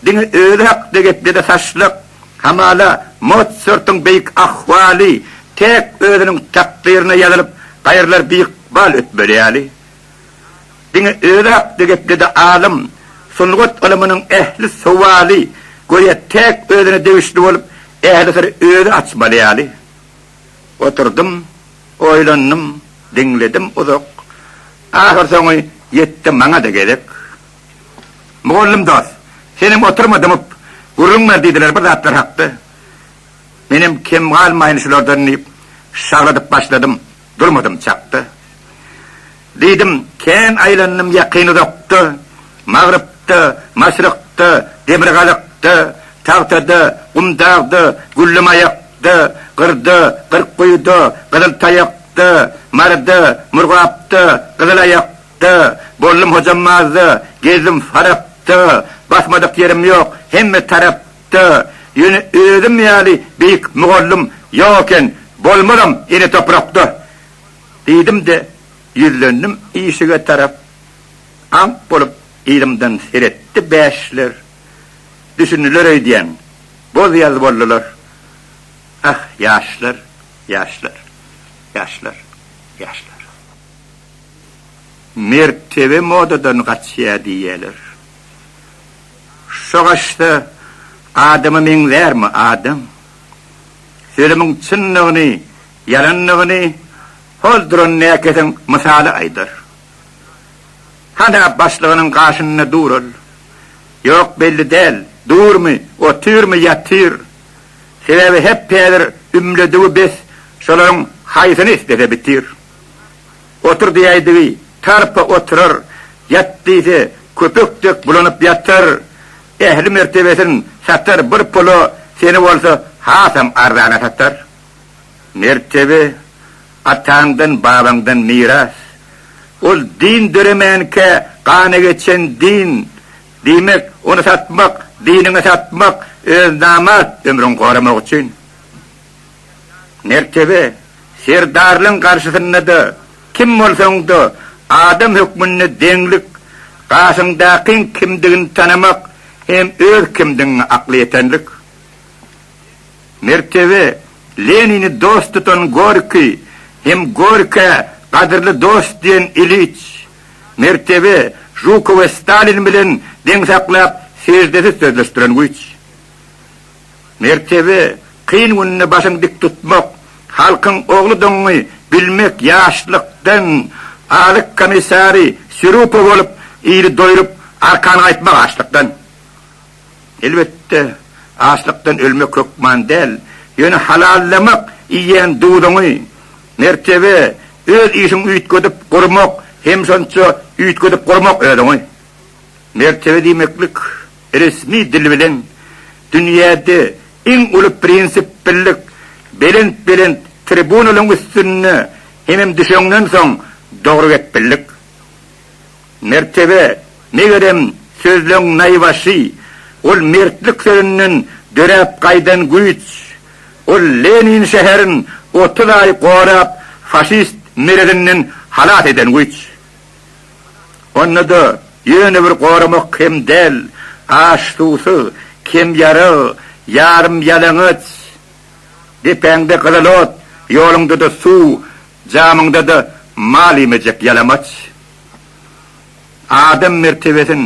Diňe özi hakda geplede saçlyk, hamala, Motsartyň beýik ahwaly täk özüniň takdyryna ýazylyp, gaýralar biykbal ötmeli ýaly. Diňe özi hakda geplede alym, sungat ylymynyň ähli sowaly, göýä, täk özüne degişli bolup, ähli syry özi açmaly ýaly. Oturdym, oýlandym, diňledim uzak. Ahyrsoňy ýetdi maňa-da gezek. Mugallym dost, senem oturma dymyp, gürrüň ber diýdiler bir zatlar hakda. Menem kem galmaýyn şulardan diýip, şagladyp başladym, durmadym çakda. Diýdim, kän aýlandym ýakyn-uzakda, Magrypda, Maşrykda, Demirgazykda, Tagtada, Gumdagda, Güllemaýakda, Gyrda, Gyrkguýuda, Gyzyltaýakda, Maryda, Murgapda, Gyzylaýakda, Ýapyşakda boldum hojam mazda, Gezdim Farapda, Basmadyk ýerim ýok hemme tarapda. Ýöne özüm ýaly beýik mugallym ýok eken, Bolmazam ene toprakda. Diýdim-de, ýüzlendim işige tarap, Aňk bolup yzymdan seretdi bäşler. Düşündiler öýdýän, boz ýaz boldular, Ah, ýaşlar, ýaşlar, ýaşlar, ýaşlar. Mertebe modadan gaçýar diýýäler. Şo gaçsa adama meňzärmi adam? Sözümiň çyndygyny, ýalandygyny hol duran näkeseň mysaly aýdar. Hana başlygynyň gaşynda dural. Ýok belli däl, durmy, otyrmy, ýatyr. Sebäbi hep-häzir ümledigi bes şolaryň haýsyny islese bitir. Otur diýäýdigi, tarpa oturar, ýat diýse, köpek dek bulanyp ýatar. Ähli mertebesin satar bir pula, seni bolsa hasam arzana satar. Mertebe, ataňdan, babaňdan miras. Ol din döremänkä gana geçen din. Diýmek, ony satmak, diniňi satmak, özi namart ömrüňi goramak üçin. Mertebe Serdarlaň garşysynda-da kim bolsaň-da adam hökmünde deňlik, gaşyňdakyň kimdigini tanamak hem öz kimdigiňi akla ýetenlik. Mertebe Lenini dost tutan Gorki hem Gorkä gadyrly dost diýen Iliç. Mertebe Žukowy Stalin bilen deň saklap seždesiz sözleşdiren güýç. Mertebe, kyn günde başyňy dik tutmak, halkyň ogludygyňy bilmek ýaşlykdan azyk komissary Sýrupa bolup, ili doýrup, arkany gaýtmak açlykdan. Elbetde, açlykdan ölmek hökman däl, ýöne halallamak iýen duzuňy, Mertebe, öz işiňi üýtgedip gurmak, hem şonça üýtgedip gurmak özüňi. Mertebe diýmeklik. Resmi dil bilen dünýäde iň uly prinsip birlik, belent belent tribunalaryň üstünde hemem düşeňden soň dogry gep birlik. Mertebe, megerem, sözleň naýbaşy, ol mertlik sözünden döräp gaýdan güýç. Ol Lenin şäherin otuz aý gorap faşist merezinden halas eden güýç. Onda-da ýöne bir goramak hem däl, aç-suwsuz, kemýarag, ýarym-ýalaňaç. Depäňde gyzyl ot, ýoluňda-da suw, jamyňda-da mal iýmejek ýalamaç. Adam mertebesin,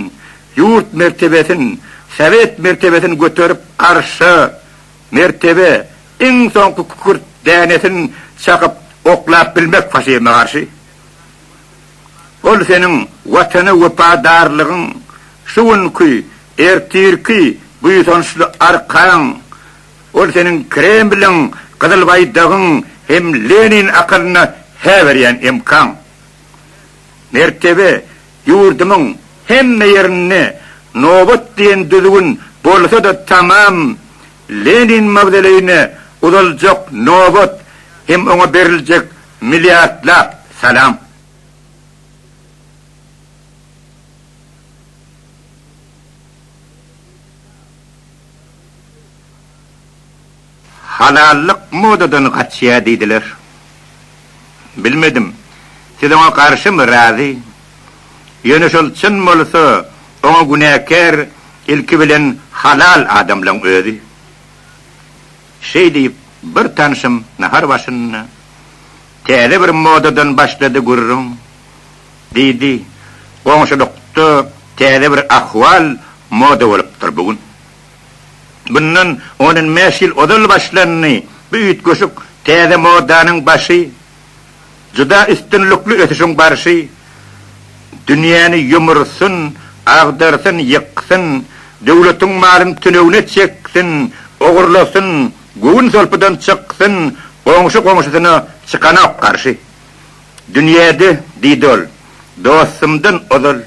ýurt mertebesin, sowet mertebesin göterip arşa, mertebe, iň soňky kükürt dänesin çakyp oklap bilmek faşizme garşy. Ol seniň Watana wepadarlygyň, şu günki, ertirki buýsançly arkaň, ol seniň Kremliň Gyzyl Baýdagyň hem Lenin akylyna hä berýän emkaň. Mertebe, ýurdumyň hemme ýerinde nobat diýen düzgün bolsa-da tamam, Lenin mawzoleýine uzaljak nobat hem oňa beriljek Milliardlap salam. Halallyk modadan gaçýa diýdiler. Bilmedim. Siz oňa garşymy, razy? Ýöne şol çyn bolsa, oňa günäkär ilki bilen halal adamlaň özi. Şeý diýip, bir tanşym nahar başynda, Täze bir modadan başlady gürrüň, diýdi. Goňşulykda täze bir ahwal moda bolupdyr bu gün. Bundan on-on bäş ýyl ozal başlandy bu üýtgeşik täze modanyň başy Juda üstünlikli ösüşiň barşy dünýäni ýumursun, agdarsyn, ýyksyn, döwletiň malyny tünewine çeksin, ogurlasyn, göwün solpudan çyksyn, goňşy goňşusyna çykanok garşy. Dünýäde, diýdi ol, dostumdan ozal,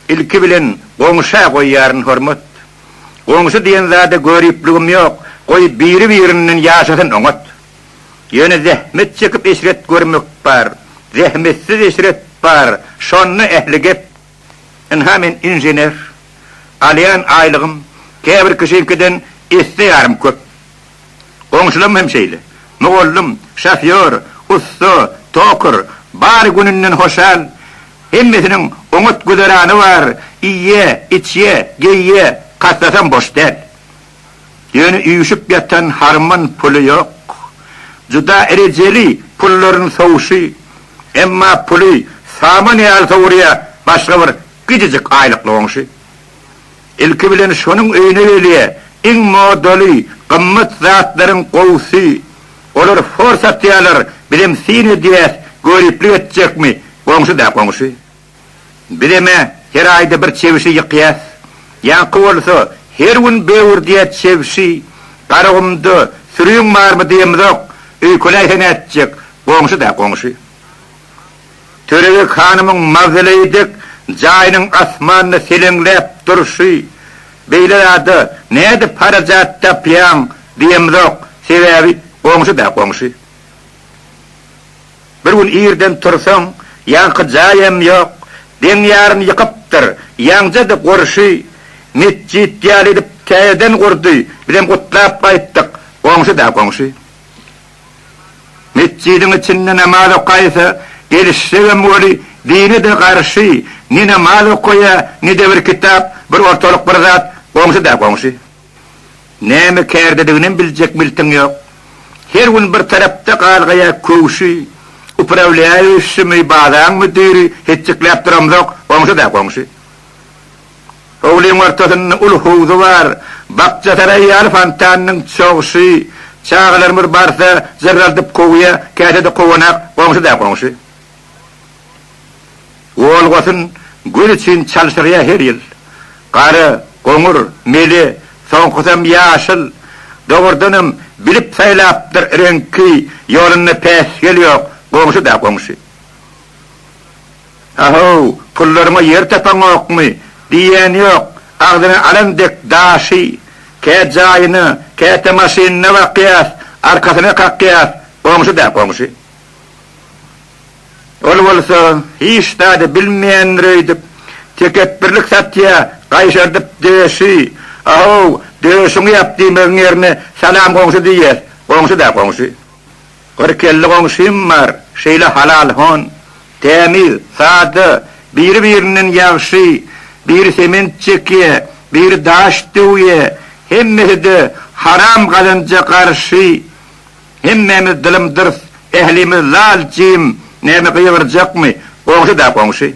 ilki bilen goňşa goýýaryn hormat. Goňşy diýen zada göripligim ýok, goý biri-birinden ýaşasyn oňat. Ýöne zähmet çekip eşret görmek bar, zähmetsiz eşret bar, şonda ähli gep. Ynha men inžener, alýan aýlygym käbir kişiňkiden esse ýarym köp. Goňşularym hem şeýle. Mugallym, şofýor, ussa, tokar, bary gününden hoşal, hemmesiniň oňat güzerany bar, iýýä, içýä, geýýä, kassasam boş däl. Ýöne üýşüp ýatan harman puly ýok. Juda erejeli pullaryny sowuşy, emma puly saman ýaly sowurýar, başga bir gijijik aýlykly goňşy. Ilki bilen şonuň öýüne gelýär, iň modaly, gymmat zatlaryň gowusy. Olar for satýarlar, bizem syn edýäs, göriplik etjekmi, goňşy-da goňşy. Biz eme her aýda bir çebişi ýykýas. Ýaňky bolsa her gün böwürdýä çebişi. Garagumda sürüň barmy diýemizok. Öýkeläýse nätjek, goňşy-da goňşy. Törebeg hanymyň mawzoleýi dek jaýynyň asmanda seleňläp durşy. Beýle zada nädip harajat tapýaň diýemizok, sebäbi goňşy-da goňşy. Bir gün irden tursaň, ýaňky jaý hem ýok, deň ýarym ýykypdyr, ýaňja-da gorşy metjit ýaly edip täzeden gurdy, bizem gutlap gaýtdyk, goňşy-da goňşy. Metjidiň içinde namaz okaýsa, gelişsegem weli dine-de garşy, ne namaz okaýa, ne-de bir kitap, bir ortalyk bir zat, goňşy-da goňşy. Näme kärdediginem biljek miltiň ýok. Her gün bir tarapda galgaýa köwşi, upravlýaý öşşümi, bazaň müdiri hetjekläp duramzok, goňşy-da goňşy. Howlyň ortasynda uly howzy bar, bakjasaraý ýaly fontanynyň çogşy, çagalarymyz barsa jyrraldyp kowýa, käte-de kowanak, goňşy-da goňşy. Olgasyn gül üçin çalşyrýar her ýyl. Gara, goňur, mele, soňkusam ýaşyl. Dogrudanam, bilip saýlapdyr reňki, ýolunda päsgel ýok, goňşy-da goňşy. A-how, pullaryňa ýer tapaňokmy? diýýän ýok, agzyna alan dek daşy. Kä jaýyna, käte maşynyna bakýas, arkasyna kakýas, goňşy-da goňşy. Ol bolsa, hiç zady bilmeýändir öýdüp, tekepbirlik satýa, gaýşardyp döşi, A-how, döşüňi ýap diýmegiň ýerine Salam goňşy diýýär. Goňşy-da goňşy. Gyr kelli goňşym bar, şeýle halal hon, tämiz, sada, biri-birinden ýagşy, biri sement çekýä, biri daş döwýä, hemmesi-de haram gazanja garşy, Hemmämiz dylym-dyrs, ählimiz lal-jim, näme gygyrjakmy, goňşy-da goňşy.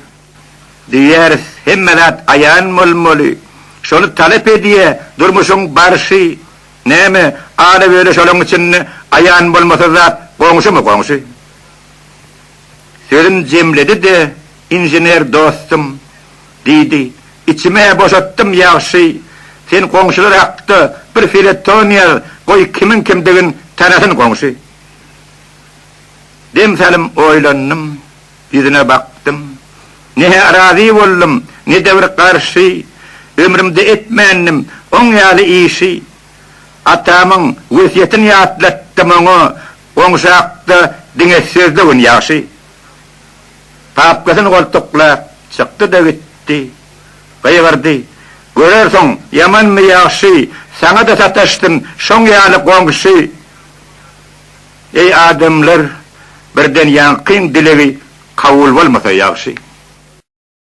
Diýýäris, hemme zat aýan bolmaly. Şony talap edýä durmuşyň barşy. Näme, ala-böle şolaň içinde aýan bolmasa zat goňşymy goňşy. Sözün jemledi-de inžener dostum. Diýdi. Içim-ä boşatdym, ýagşy. Sen goňşular hakda bir feleton ýaz, goý kimiň kimdigin tanasyn goňşy. Dem salym oýlandym, ýüzüne bakdym. Ne-hä razy boldum, ne-de bir garşy. Ömrümde etmändim oň ýaly işi. Atamyň wesýetini ýatlatdym oňa, goňşy hakda diňe sözde gün ýagşy. Papkasyny goltuklap, çykdy-da gitdi. Gygyrdy, Görersiň, ýamanmy-ýagşy, saňa-da sataşdym, şoň ýaly goňşy! Eý, adamlar, birden ýaňkyň dilegi kabul bolmasa ýagşy.